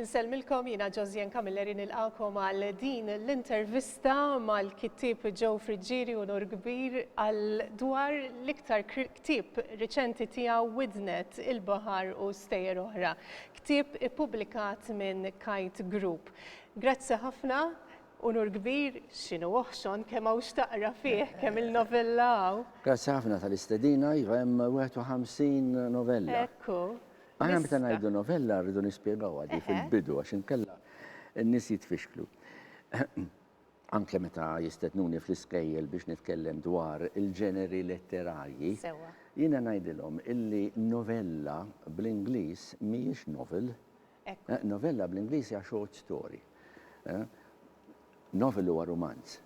Insellmilkom jina Josien Camilleri nilqakom għal din l-intervista mal-kittib Joe Friġġieri u Nur Kbir għal dwar l-iktar kittib riċenti tiegħu Widnet il-Bahar u Stejer oħra. Kittib ippubblikat minn Kite Group. Grazzi ħafna, unur kbir, x'inhu oħxon kemm hawn x'taqra fih, kemm il-novella hawn. Grazzi ħafna tal-istedina, iva hemm 51 novella. Ekku. Aħna meta ngħidu novella rridu nispjegawha di fil-bidu għax inkella n-nies jitfixklu. anke meta jistednuni fl-iskejjel biex nitkellem dwar il-ġeneri letterarji, jiena ngħidilhom illi novella bl-Ingliż mhijiex novel, Hekk. Novella bl-Ingliż hija short story. Novel huwa rumanz.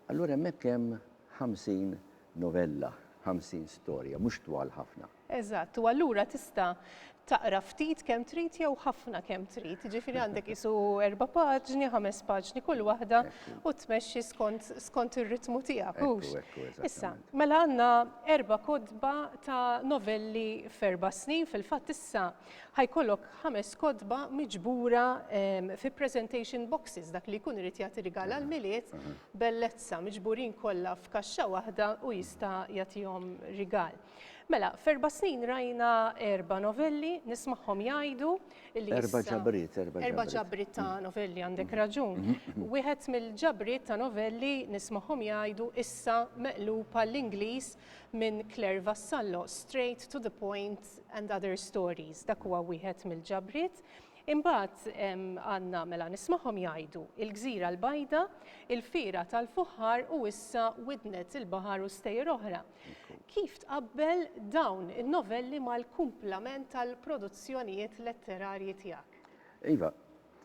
Allura hemmhekk hemm 50 novella, 50 storja, mhux twal ħafna. Eżatt, u allura tista' taqra ftit kemm trid jew ħafna kemm trid. Ġifieri għandek isu erba' paġni, ħames paġni kull waħda u tmexxi skont skont ir-ritmu tiegħek. hux? Ekku, ekku, eżatt. Issa, mela għandna erba' kotba ta' novelli f'erba' snin, fil-fatt issa Ħa jkollok ħames kotba miġbura fi presentation boxes, dak li jkun irid jagħti rigal għall-Milied, bellezza, miġburin kollha f'kaxxa waħda u jista' jagħtihom rigal. Mela, f'erba' snin rajna erba' novelli, nismagħhom jgħidu li. Erba' ġabriet, erba' ġabriet. Erba' ġabriet ta' mm. novelli għandek mm. raġun. Mm. Wieħed mill-ġabriet ta' novelli nismagħhom jgħidu issa meqlub għall-Ingliż Minn Claire Vassallo, Straight to the Point and Other Stories, dak huwa wieħed mill-ġabriet. Imbagħad għandna mela nismagħhom jgħidu Il-Gżira l-Bajda, Il-Fiera tal-Fuħħar u issa Widnet il-Baħar u Stejjer Oħra. Kif tqabbel dawn in-novelli mal-kumplament tal-produzzjonijiet letterarji tiegħek? Iva,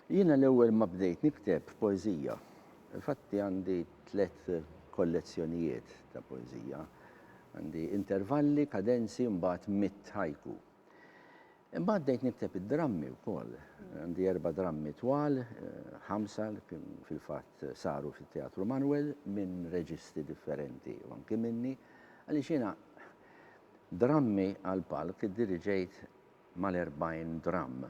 Jiena l-ewwel ma bdejt nikteb poeżija. Infatti għandi tliet kollezzjonijiet ta' poeżija. Għandi intervalli, kadenzi, mbagħad mitt haiku. Imbagħad bdejt nikteb id-drammi wkoll. Għandi erba' drammi twal, ħamsa li kien fil-fatt saru fit-Teatru Manwel minn reġisti differenti u anki minni, għaliex jiena drammi għall-palk iddiriġejt mal-40 dramm,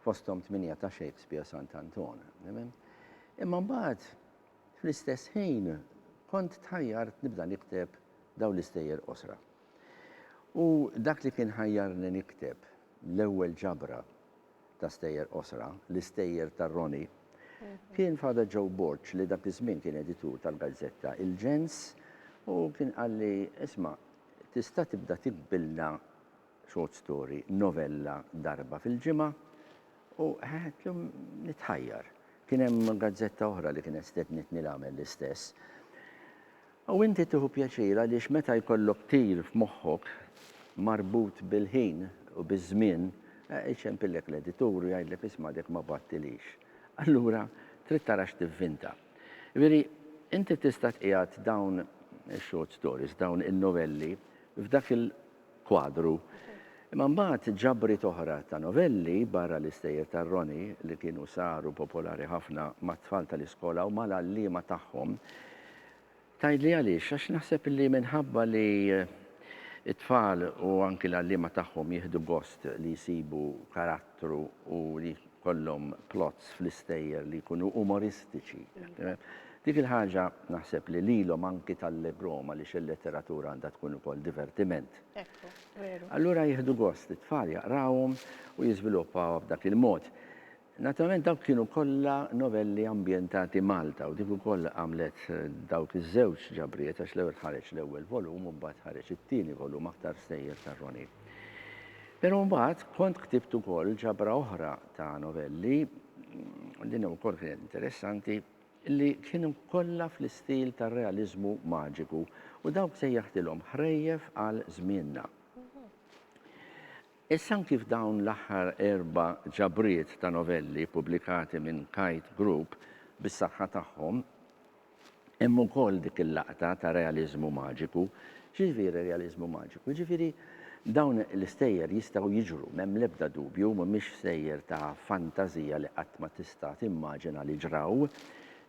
fosthom tmienja ta' Shakespeare Sant' Anton. Imma mbagħad, fl-istess ħin, kont tħajjart nibda nikteb dawn l-istejjer qosra. U dak li kien ħajjarni nikteb l-ewwel ġabra ta' stejjer qosra, L-Istejjer ta' Ronnie, kien Father Joe Borg li dak iż-żmien kien editur tal-gazzetta Il-Ġens u kien qalli, Isma', tista' tibda tiktbilna short story, novella darba fil-ġimgħa, u llum nitħajjar. Kien hemm gazzetta oħra li kienet stednitni l-għamel l-istess. U inti tieħu pjaċir għaliex meta jkollok tir f'moħħok marbut bil-ħin u biż-żmien, iċempillek l-editur u jgħidlek isma' dek ma bgħattilix. Allura trid tara x'tivvinta. Jiġifieri inti tista' tqiegħed dawn ix-short stories, dawn in-novelli f'dak il. kwadru. Imma mbagħad ġabriet oħra ta' novelli, barra l-istejjer ta' Ronnie, li kienu saru popolari ħafna mat-tfal tal-iskola u mal-għalliema tagħhom. Tgħidli għaliex? Għax naħseb li minħabba li t-tfal u anki l-għalliema tagħhom jieħdu gost li jsibu karattri, Teatru u li jkollhom plots fl-istejjer li jkunu umoristiċi. Dik il-ħaġa naħseb li lilhom anki tallegrhom għaliex il-letteratura għandha tkun ukoll divertiment. Ekku, veru. Allura jieħdu gost it-tfal jaqrawhom u jiżviluppawha b'dak il-mod. Naturalment dawk kienu kollha novelli ambjentati Malta u dik ukoll għamlet dawk iż-żewġ ġabriet għax l-ewwel ħareġ l-ewwel volum u mbagħad ħareġ it-tieni volum aktar stejjer tar-Ronnie. Pero mbagħad kont ktibt ukoll ġabra oħra ta' novelli, din ukoll kienet interessanti, li kienu kollha fl-istil tar-realiżmu maġiku u dawk sejjaħtilhom Ħrejjef għal Żmienna. Issa anki f'dawn l-aħħar erba' ġabriet ta' novelli pubblikati minn Kite Group bis-saħħa tagħhom, Hemm ukoll dik il-laqta ta' realiżmu maġiku. X'jiġifieri realiżmu maġiku? Jiġifieri dawn l-istejjer jistgħu jiġru, m'hemm l-ebda dubju, mhumiex stejjer ta' fantażija li qatt ma tista' timmaġina li ġraw,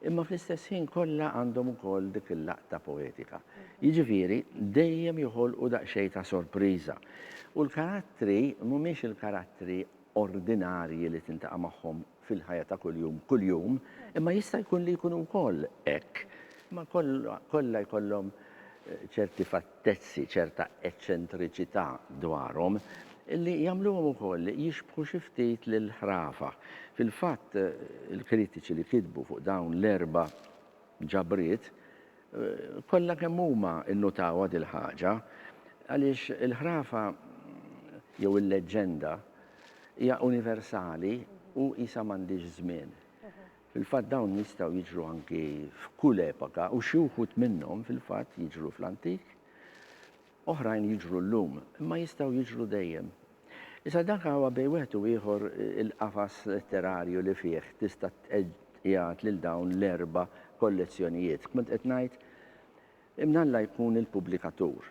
imma fl-istess ħin kollha għandhom ukoll dik il-laqta poetika. Jiġifieri dejjem joħolqu daqsxejn ta' sorpriża. U l-karattri mhumiex il-karattri ordinarji li tintaqa' magħhom fil-ħajja ta' kuljum kuljum, imma jista' jkun li jkunu wkoll hekk, imma kollha jkollhom ċerti fattezzi, ċerta eċċentriċità dwarhom li jagħmluhom ukoll jixbħu xi ftit lill-ħrafa. Fil-fatt, il-kritiċi li kitbu fuq dawn l-erba' ġabriet, kollha kemm huma nnotawha dil-ħaġa, għaliex il-ħrafa jew il-leġġenda hija universali u qisha m'għandhiex żmien. Fil-fatt dawn jistgħu jiġru anki f'kull epoka u xi wħud minnhom fil-fatt jiġru fl-antik. Oħrajn jiġru llum, imma jistgħu jiġru dejjem. Iżda dak hawa bejn wieħed u ieħor il-qafas letterarju li fih tista' tqiegħed lil dawn l-erba' kollezzjonijiet. Kont qed ngħid, imnalla jkun il-pubblikatur,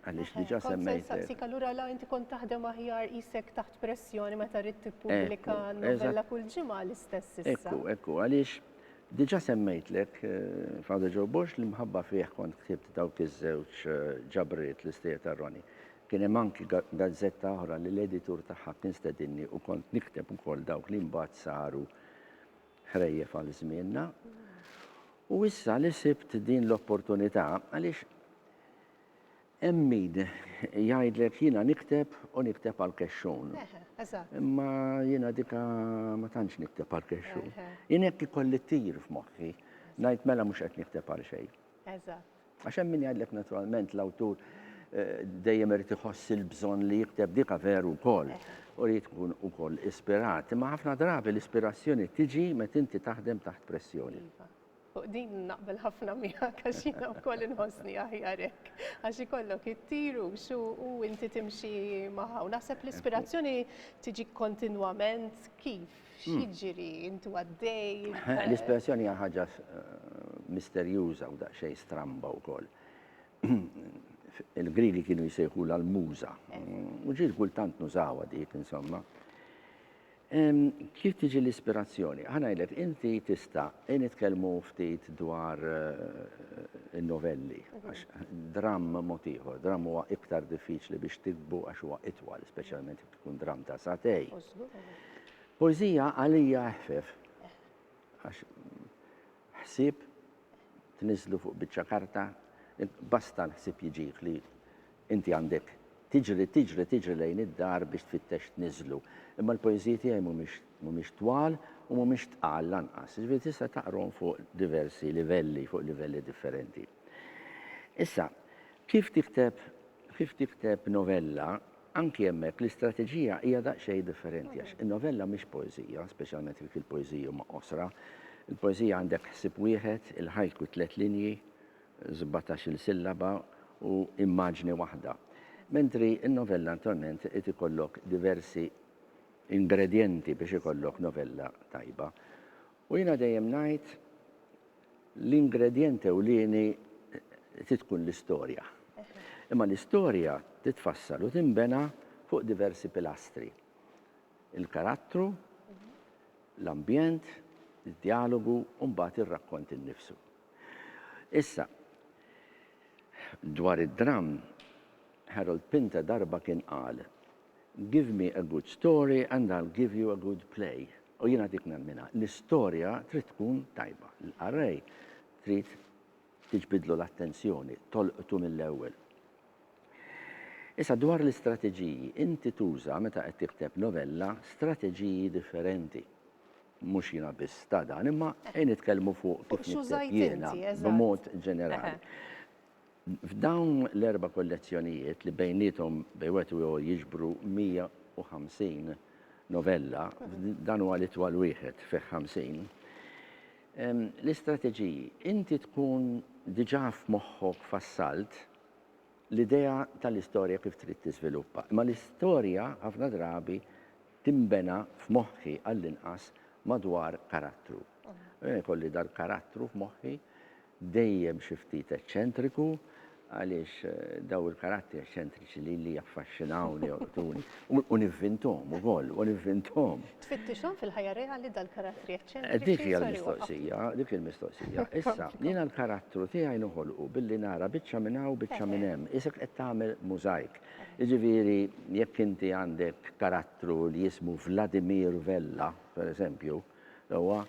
għaliex diġà semmejt hekk. Kont se nsaqsik, allura la inti kont taħdem aħjar qisek taħt pressjoni meta ridt tippubblika novella kull ġimgħa l-istess issa? Ekku, ekku, għaliex Diġà semmejtlek Father Joe Borg li mħabba fih kont ktibt dawk iż-żewġ ġabriet l-istejjer ta' Ronnie. Kien hemm anki gazzetta oħra li l-editur tagħha kien stedinni u kont nikteb ukoll dawk li mbagħad saru ħrejjef għal żmienna. U issa li sibt din l-opportunità għaliex Hemm min jgħidlek jiena nikteb u nikteb għall-kexxun. Imma jiena dika ma tantx nikteb għall-kexxun. Jien hekk ikolli tir f'moħħi, ngħid mela mhux qed nikteb għal xejn. Għax hemm min jgħidlek naturalment l-awtur eh, dejjem irid iħoss il-bżonn li jikteb dika veru wkoll u li tkun ukoll ispirat. Imma ħafna drabi l-ispirazzjoni tiġi meta inti taħdem taħt pressjoni. Iva. Fuq din naqbel ħafna miegħek għax jiena wkoll inħossni aħjar hekk. Għax ikollok ittir u xu u inti timxi magħha. U naħseb l-ispirazzjoni tiġi kontinwament kif? X'jiġri? Intu għaddej? L-ispirazzjoni hija ħaġa misterjuża u daqsxejn stramba wkoll. Il-Griegi kienu jsejħulha l-muża. U ġieli kultant nużawha dik, insomma. Kif tiġi l-ispirazzjoni? Ħa ngħidlek, inti tista', ejja nitkellmu ftit dwar in-novelli, għax dramm mod ieħor, dramm huwa iktar diffiċli biex tiktbu għax huwa itwal, speċjalment jekk ikun dramm ta' sagħtejn. Poeżija għalija eħfef, għax ħsieb tniżżlu fuq biċċa karta, basta l-ħsieb jiġih li inti għandek tiġri, tiġri, tiġri lejn id-dar biex tfittex tniżżlu. Imma l-poeżiji tiegħi mhumiex mhumiex twal u mhumiex tqal lanqas, jiġifieri tista' taqrhom fuq diversi livelli, fuq livelli differenti. Issa, kif tikteb kif tikteb novella, Anki hemmhekk l-istrateġija hija daqsxejn differenti għax in-novella mhix poeżija, speċjalment jekk il-poeżiji huma qosra. Il-poeżija għandek ħsieb wieħed, il-haiku tliet linji, sbatax-il sillaba, u immaġni waħda. Mentri n-novella attualment irid ikollok diversi ingredjenti biex ikollok novella tajba. U jiena dejjem ngħid, l-ingredjent ewlieni trid tkun l-istorja. Imma l-istorja titfassal u tinbena fuq diversi pilastri, il-karattru, l-ambjent, id-djalogu u mbagħad ir-rakkont innifsu. Issa, dwar id-dramm, Harold Pinter darba kien qal, Give me a good story and I'll give you a good play, u jiena dik nemminha. L-istorja trid tkun tajba. L-qarrej trid tiġbidlu l-attenzjoni, tolqtu mill-ewwel. Issa dwar l-istrateġiji, inti tuża meta qed tikteb novella strateġiji differenti. Mhux jiena biss ta' dan, imma ejn nitkellmu fuq kif nikteb jiena b'mod ġenerali. F'dawn l-erba' kollezzjonijiet, li bejniethom bejn wieħed u ieħor jiġbru 150 novella, dan huwa l-itwal wieħed, fih 50, l-istrateġiji, inti tkun diġà f'moħħok fassalt l-idea tal-istorja kif trid tiżviluppa. Imma l-istorja ħafna drabi tinbena f'moħħi għall-inqas madwar karattru. Jkolli dal-karattru f'moħħi, dejjem xi ftit eċċentriku, għaliex dawn il-karattri eċċentriċi lili jaffaxxinawni, jolqtuni, u nivvinthom ukoll, u nivvinthom. Tfittixhom fil-ħajja reali dal-karattri eċċentriċi? Dik hija l-mistoqsija, dik hi l-mistoqsija. Issa, jiena l-karattru tiegħi noħolqu billi nara biċċa minn hawn u biċċa minn hemm, qisek qed tagħmel mużajk. Jiġifieri, jekk inti għandek karattru li jismu Vladimir Vella, pereżempju, huwa,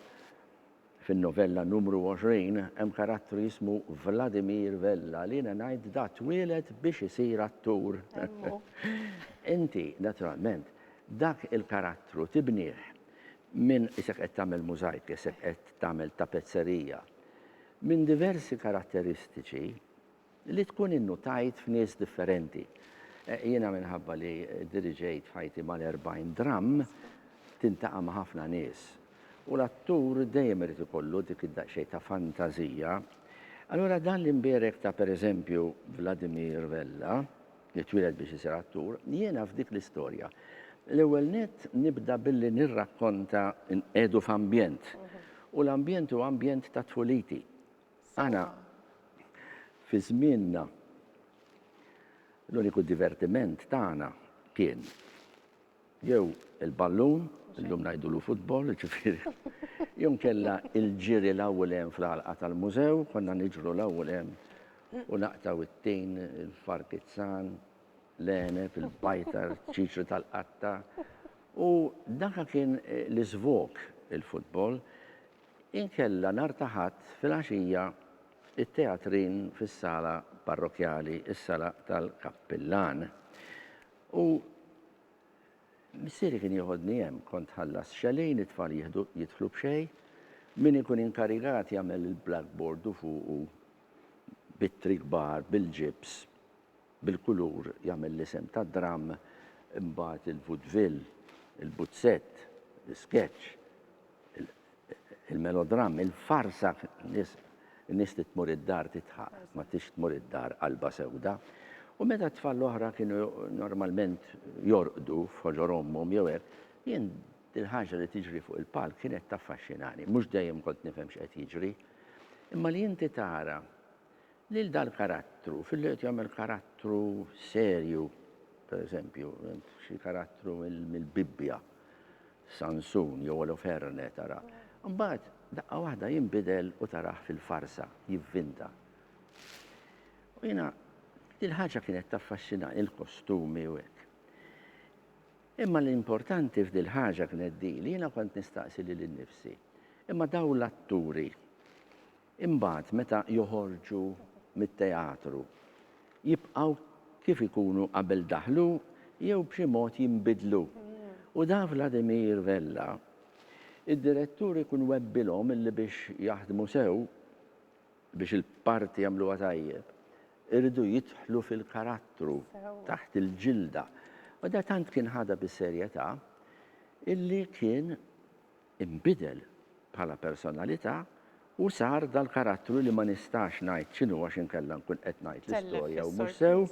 Fin-novella numru 20 hemm karattru jismu Vladimir Vella li jiena ngħid da twieled biex isir attur. Inti, naturalment, dak il-karattru tibnih minn, isek qed tagħmel mużajk, isek qed tagħmel tapezzerija, minn diversi karatteristiċi, Li tkun innutajt f'nies differenti. Jiena minħabba li diriġejt f'ħajti mal-40 dramm, tintaqa' ma' ħafna nies. U l-attur dejjem irid ikollu dik id-daqsxejn ta' fantażija. Allura dan li nbierek ta' pereżempju Vladimir Vella, li twieled biex isir attur, jiena f'dik l-istorja. L-ewwel nett nibda billi nirrakkonta nqiegħdu f'ambjent. U l-ambjent huwa ambjent ta' tfuliti. Aħna fi żmienna l-uniku divertiment tagħna kien jew il-ballun, illum ngħidulu futbol, jiġifieri, jew inkella l-ġiri 'l hawn u 'l hemm fl-għalqa tal-mużew, konna niġru 'l hawn u 'l hemm u naqtgħu it-tin, il-farkizzan, l-għeneb, il-bajtar, ċ-ċiċri tal-qatta. U dak kien l-iżvog, il-futbol. Inkella nhar ta' Ħadd filgħaxija t-teatrin fis-sala parrokkjali, is-sala tal-kappillan. U missieri kien jeħodni hemm, kont tħallas xellin, it-tfal jieħdu jidħlu b'xejn, min ikun inkarigat jagħmel il-blackboard u fuqu b'ittri kbar bil-ġibs. Bil-kulur jagħmel l-isem tad-dramm, imbagħad il-vudvill, il-buzzett, l-iskeċċ, il-melodramm, il-farsa, in-nies trid tmur id-dar tidħaq, ma tridx tmur id-dar qalbha sewda. U meta t-tfal l-oħra kienu normalment jorqdu f'ħoġor ommhom jew hekk, jien dil-ħaġa li tiġri fuq il-palk kienet taffaxxinani. Mhux dejjem kont nifhem x'qed jiġri. Imma li inti tara lil dal-karattru, filli qed jagħmel karattru serju, pereżempju, xi karattru mill-Bibbja, Sansun jew Oloferne tara. Mbagħad daqqa waħda jinbidel u tarah fil-farsa, jivvinta. U jiena il-ħaġa kienet taffaxxina il-kostumi u hekk. Imma l-importanti f'dil ħaġa kienet di li jiena kont nistaqsi lil innifsi. Imma daw l-atturi Imbagħad meta joħorġu mit-teatru, jibqgħu kif ikunu qabel daħlu jew b'xi mod jinbidlu. U da Vladimir Vella, id-direttur ikun webbilhom illi biex jaħdmu sew, biex il-parti jagħmluha tajjeb, iridu jidħlu fil-karattru, taħt il-ġilda. U da tant kien ħadha bis-serjetà illi kien inbidel bħala personalità u sar dal-karattru li ma nistax ngħid x'inhu għax inkella nkun qed ngħid l-istorja u mhux sew,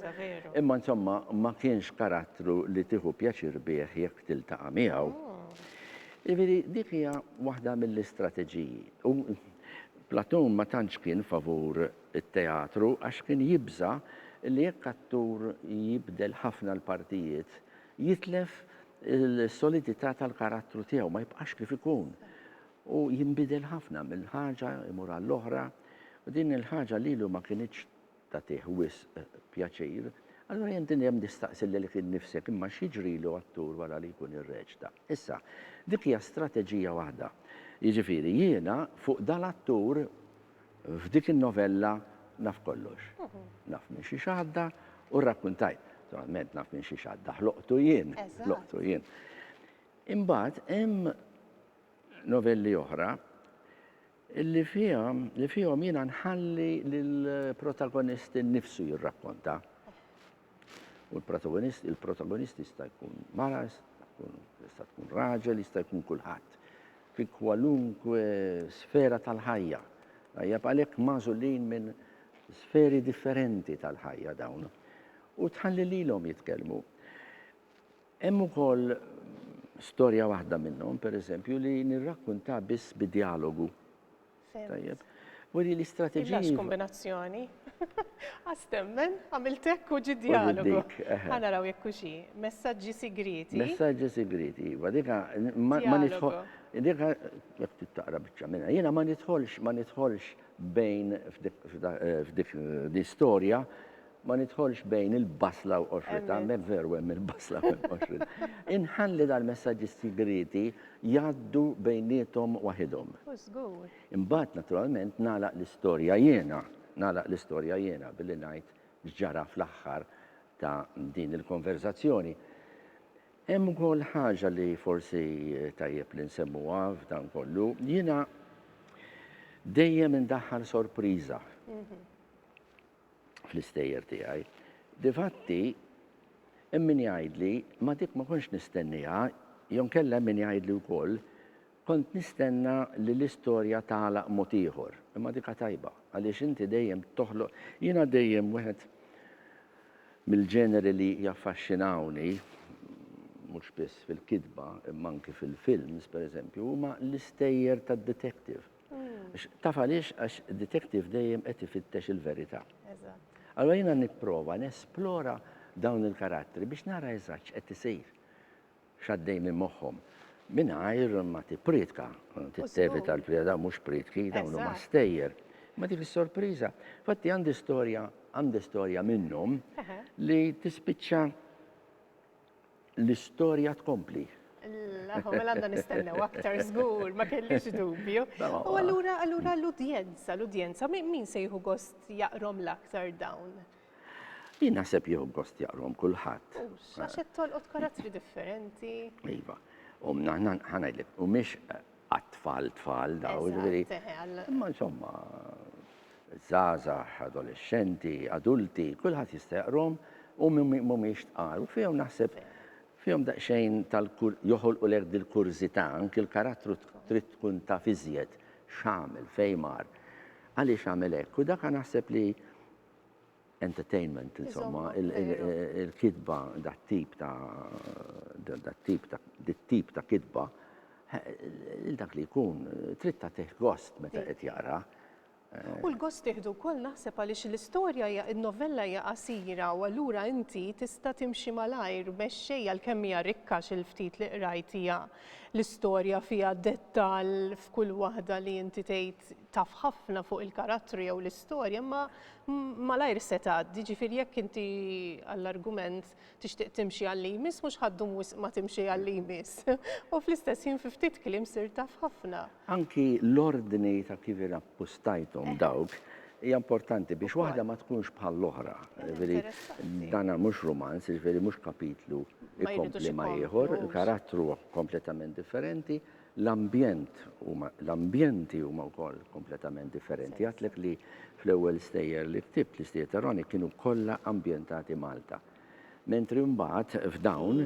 imma insomma ma kienx karattru li tieħu pjaċir bih jekk tiltaqa' miegħu. Jiġifieri dik hija waħda mill-istrateġiji. U Platon ma tantx kien favur it-teatru għax kien jibża' li jekk attur jibdel ħafna l-partijiet, Jitlef is-solidità tal-karattru tiegħu, ma jibqax kif ikun, u jinbidel ħafna minn ħaġa jmur għall-oħra, u din il-ħaġa lilu ma kinitx tagħtih wisq pjaċir. Allura jien dejjem nistaqsi lilek innifsek, imma x'jiġrilu attur wara li jkun irreċta? Issa, dik hija strateġija waħda. Jiġifieri jiena fuq dal-attur F'dik in-novella naf kollox. Naf minn xiex għadda u rrakkuntajt. Naturalment naf minn xiex għadda, ħloqtu jien, ħloqtu jien. Imbagħad hemm novelli oħra li fihom li fihom jiena nħalli lill-protagonist innifsu jirrakkonta. U l-protagonist, il-protagonist jista' jkun mara, jista' tkun raġel, jista' jkun kulħadd. Fi kwalunkwe sfera tal-ħajja. Ħajja għalhekk magħżulin minn sferi differenti tal-ħajja dawn. U tħalli lilhom jitkellmu. Hemm ukoll storja waħda minnhom, pereżempju, li nirrakkunta biss bi dialogu. Tajjeb. Weri l-istrateġija. Illax kombinazzjoni. Għas temmen, għamilt hekk u ġi dialogu. Ħa naraw jekk hu xi. Messaġġi sigrieti. Messaġġi sigrieti, iva. Dika ma nidħol. Dika jekk tittaqra biċċa minnha. Jiena ma nidħolx ma nidħolx bejn f'dik l-istorja Ma nidħolx bejn il-basla u qoxritha, m'hemm veru hemm il-basla u hemm qoxritha. Inħalli dal-messaġġi sigrieti jgħaddu bejniethom waħidhom. U żgur. Imbagħad naturalment nagħlaq l-istorja jiena, nagħlaq l-istorja jiena billi ngħid x'ġara fl-aħħar ta' din il-konverżazzjoni. Hemm ukoll ħaġa li forsi tajjeb li nsemmuha f'dan kollu, jiena dejjem indaħħal sorpriża. fl-istejjer tiegħi. Difatti, hemm min jgħidli, ma dik ma kontx nistennieha, jew inkella hemm min jgħidli wkoll, kont nistenna li l-istorja tagħlaq mod ieħor. Imma dikha tajba, għaliex inti dejjem toħloq. Jiena dejjem wieħed mill-ġeneri li jaffaxxinawni, mhux biss fil-kitba imma anki fil-films, pereżempju, huma l-istejjer tad-detective. Taf għaliex għax detective dejjem qed ifittex il-verità. Allora jiena nipprova nesplora dawn il-karattri biex nara eżatt x'qed isir. X'għaddej minn moħħhom. Mingħajr ma tippriedka, tittevita l-prieda dawn mhux priedki, dawn huma stejjer. Ma dik is-sorpriża. Fatti għandi storja, għandi storja minnhom li tispiċċa L-istorja tkompli. L-aħwa mela għandna nistennew aktar żgur, ma kellix dubju. U allura allura l-udjenza, l-udjenza, min se jieħu gost jaqrom l-aktar dawn? Jien naħseb jieħu gost jaqrom kulħadd. Hux, għax qed tolqot karattri differenti. Iva, u ngħidlek, u mhix għat-tfal tfal dawn, jiġifieri. Imma insomma, żgħażagħ, adolexxenti, adulti, kulħadd jista' jaqrahom u mhumiex tqal. U fihom naħseb fihom daqsxejn tal joħolqulek dil-kurżità, anki l-karattru trid tkun taf iżjed x'għamel, fejn mar, għaliex għamel hekk. U dak naħseb li entertainment insomma, il-kitba dat-tip ta' dat-tip ta' dit-tip ta' kitba, lil dak li jkun trid tagħtih gost meta qed jaqra. U l-gost tieħdu wkoll naħseb għaliex l-istorja hija n-novella hija qasira u allura inti tista' timxi malajr, mexxej għalkemm hija rikka xi l-ftit li qrajt hija l-istorja fiha dettall f'kull waħda li inti tgħid taf ħafna fuq il-karattru jew l-istorja, imma malajr se tgħaddi, jiġifieri jekk inti għall-argument tixtieq timxi għalli jmiss mhux ħaddum wisq ma timxi għalli jmiss. U fl-istess ħin fi ftit kliem sirt taf ħafna. Anki l-ordni ta' kif irrappostajthom dawk hija importanti biex waħda ma tkunx bħall-oħra. Jiġifieri dan mhux rumanz, jiġifieri mhux kapitlu jkompli ma' ieħor, il-karattru kompletament differenti, l-ambjent huma, l-ambjenti huma wkoll kompletament differenti. Għadtlek li fl-ewwel stejjer li ktibt, l-istejjer ta' Roni kienu kollha ambjentati Malta. Mentri mbagħad f'dawn,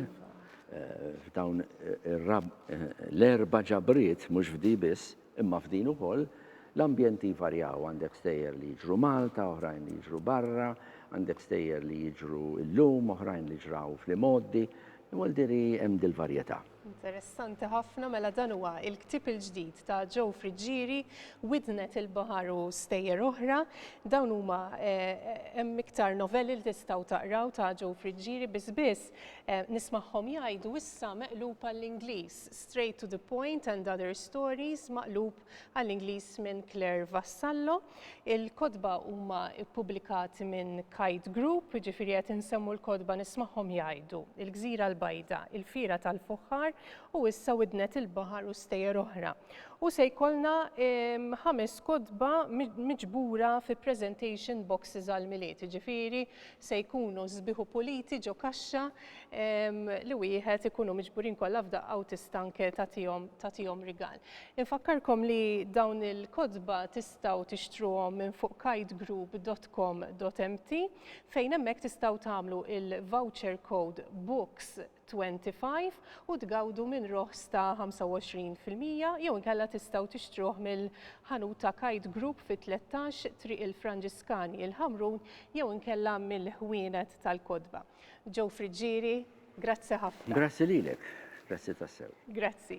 eh, f'dawn eh, eh, l-erba' ġabriet mhux f'di biss, imma f'din ukoll, l-ambjenti varjaw għandek stejjer li jiġru Malta, oħrajn li jiġru barra, għandek stejjer li jiġru illum, oħrajn li ġraw fl-imoddi, imma diri hemm dil-varjetà. Interessanti ħafna, mela dan huwa il-ktieb il-ġdid ta' Joe Friggieri, Widnet il-Baħar u Stejjer Oħra. Dawn huma eh, hemm iktar novelli li tistgħu taqraw ta' Joe Friggieri biss biss eh, nismagħhom jgħidu issa meqlub għall-Ingliż, Straight to the Point and Other Stories maqlub għall-Ingliż minn Claire Vassallo. Il-kotba huma ppubblikati minn Kite Group, ġifieri qed insemmu l-kotba nismagħhom jgħidu Il-Gżira l-Bajda, Il-Fira tal-Fuħħar u issa Widnet il-Baħar u stejjer oħra. U se jkollna ehm, ħames kotba miġbura fi presentation boxes għal-miliet, ġifieri se jkunu sbiħu puliti ġo kaxxa ehm, li wieħed ikunu miġburin kollha f'daqqa u tista' anke tagħtihom rigal. Infakkarkom li dawn il-kotba tistgħu tixtruhom minn fuq kitgroup.com.mt fejn hemmhekk tistgħu tagħmlu il-voucher code books25 u tgawdu minn roħs ta' 25 fil-mija jew inkella tistgħu tixtruh mill-ħanut ta' Kite Group fi 13 Triq il-Franġiskani il-Ħamrun jew inkella mill-ħwienet tal-kotba. Joe Friggieri, grazzi ħafna. Grazzi lilek, grazzi tassew. Grazzi.